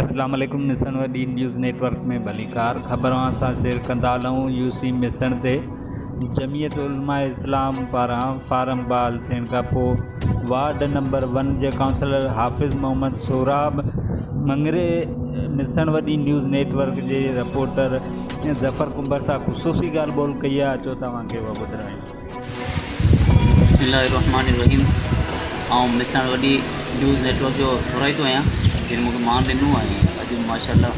اسلام عليڪم Mesan D news network ۾ ڀليڪار خبر اوهان سان شيئر ڪندا هلون يو سي ميسڻ تي جميعت علماء اسلام پاران فارم بحال ٿيڻ کان پوء وارڊ نمبر ون جي councillor Hafiz Muhammad Sohrab Mangri Mesan D news network جي رپورٽر ظفر ڪنڀر سان خصوصي ڳالهه ٻولهه ڪئي آهي اچو توهان کي اها ٻڌرايون بسم الله الرحمٰن الرحيم آئون ميساڻ وڏي نيوز نيٽورڪ جو ٿورائتو آهيان جن مونکي مان ڏنو آهي اڄ ماشاء الله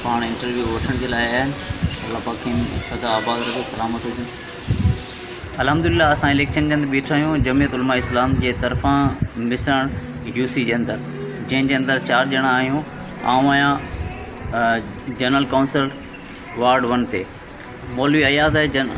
پاڻ انٽرويو وٺڻ جي لاء آيا آهن الله پاڪ کين سدا آباد رکي سلامت هجن الحمدللہ اسان اليڪشن جي اندر بيٺا آهيون جميعت علماء اسلام جي طرفان مسڻ يو سي جي اندر جنهن جي اندر چار ڄڻا آهيون آئون آهيان جنرل ڪائونسل وارڊ ون تي مولوي اياز آهي جن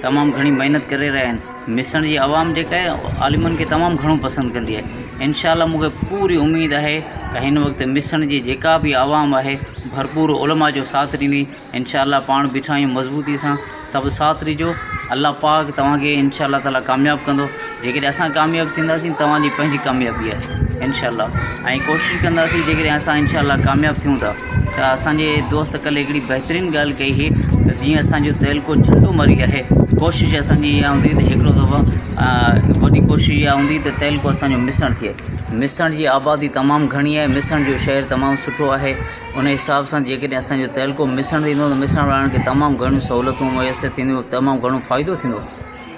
تمام گهڻي محنت ڪري رهيا آهن ميسڻ جي عوام جيڪا آهي عالمن کي تمام گهڻو پسند ڪندي آهي انشاء الله مون کي پوري اميد آهي ته هن وقت ميسڻ جي جيڪا بي عوام آهي ڀرپور علماء جو ساٿ ڏيندي انشاء الله پاڻ بيٺا آهيون مضبوطي سان سڀ ساٿ ڏجو الله پاڪ توهان کي انشاء الله تعالٰي ڪامياب ڪندو جيڪڏهن اسان ڪامياب ٿينداسين توهان جي پنهنجي ڪاميابي آهي انشاء الله ۽ ڪوشش ڪنداسين جيڪڏهن اسان انشاء الله ڪامياب ٿيون ٿا ته اسانجي دوست ڪلهه هڪڙي بهترين ڳالهه ڪئي هي ته جيئن اسانجو تعلقو جهنڊو مري آهي ڪوشش اسانجي اها هوندي ته هڪڙو دفعو وڏي ڪوشش اها هوندي ته تعلقو اسانجو مسڻ ٿئي مسڻ جي آبادي تمام گهڻي آهي مسڻ جو شهر تمام سٺو آهي ان حساب سان جيڪڏهن اسانجو تعلقو مسڻ ٿيندو ته مسڻ وارن کي تمام گهڻيون سهولتون ميسر ٿينديون تمام گهڻو فائدو ٿيندو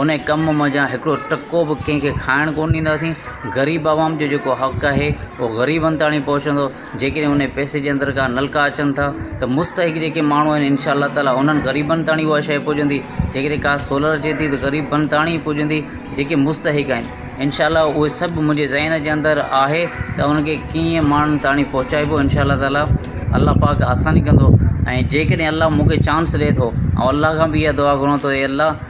ان ڪم مان جا هڪڙو ٽڪو به ڪنهن کي کائڻ ڪونه ڏينداسين غريب عوام جو جيڪو حق آهي اهو غريبن تائڻي پهچندو جيڪڏهن ان پئسي جي اندر ڪا نلڪا اچن ٿا ته مستحق جيڪي ماڻهو آهن ان شاء الله تعاليٰ انهن غريبن تائڻي اها شيء پڄندي جيڪڏهن ڪا سولر اچي ٿي ته غريبن تائڻي ئي پڄندي جيڪي مستحق آهن ان شاء الله اهي سڀ منهنجي ذهن جي اندر آهي ته ان کي ڪيئن ماڻهن تائڻي پهچائبو ان شاء الله تعاليٰ الله پاڪ آساني ڪندو ۽ جيڪڏهن الله مون کي چانس ڏئي ٿو الله کان به اها دعا گهران ٿو اي الله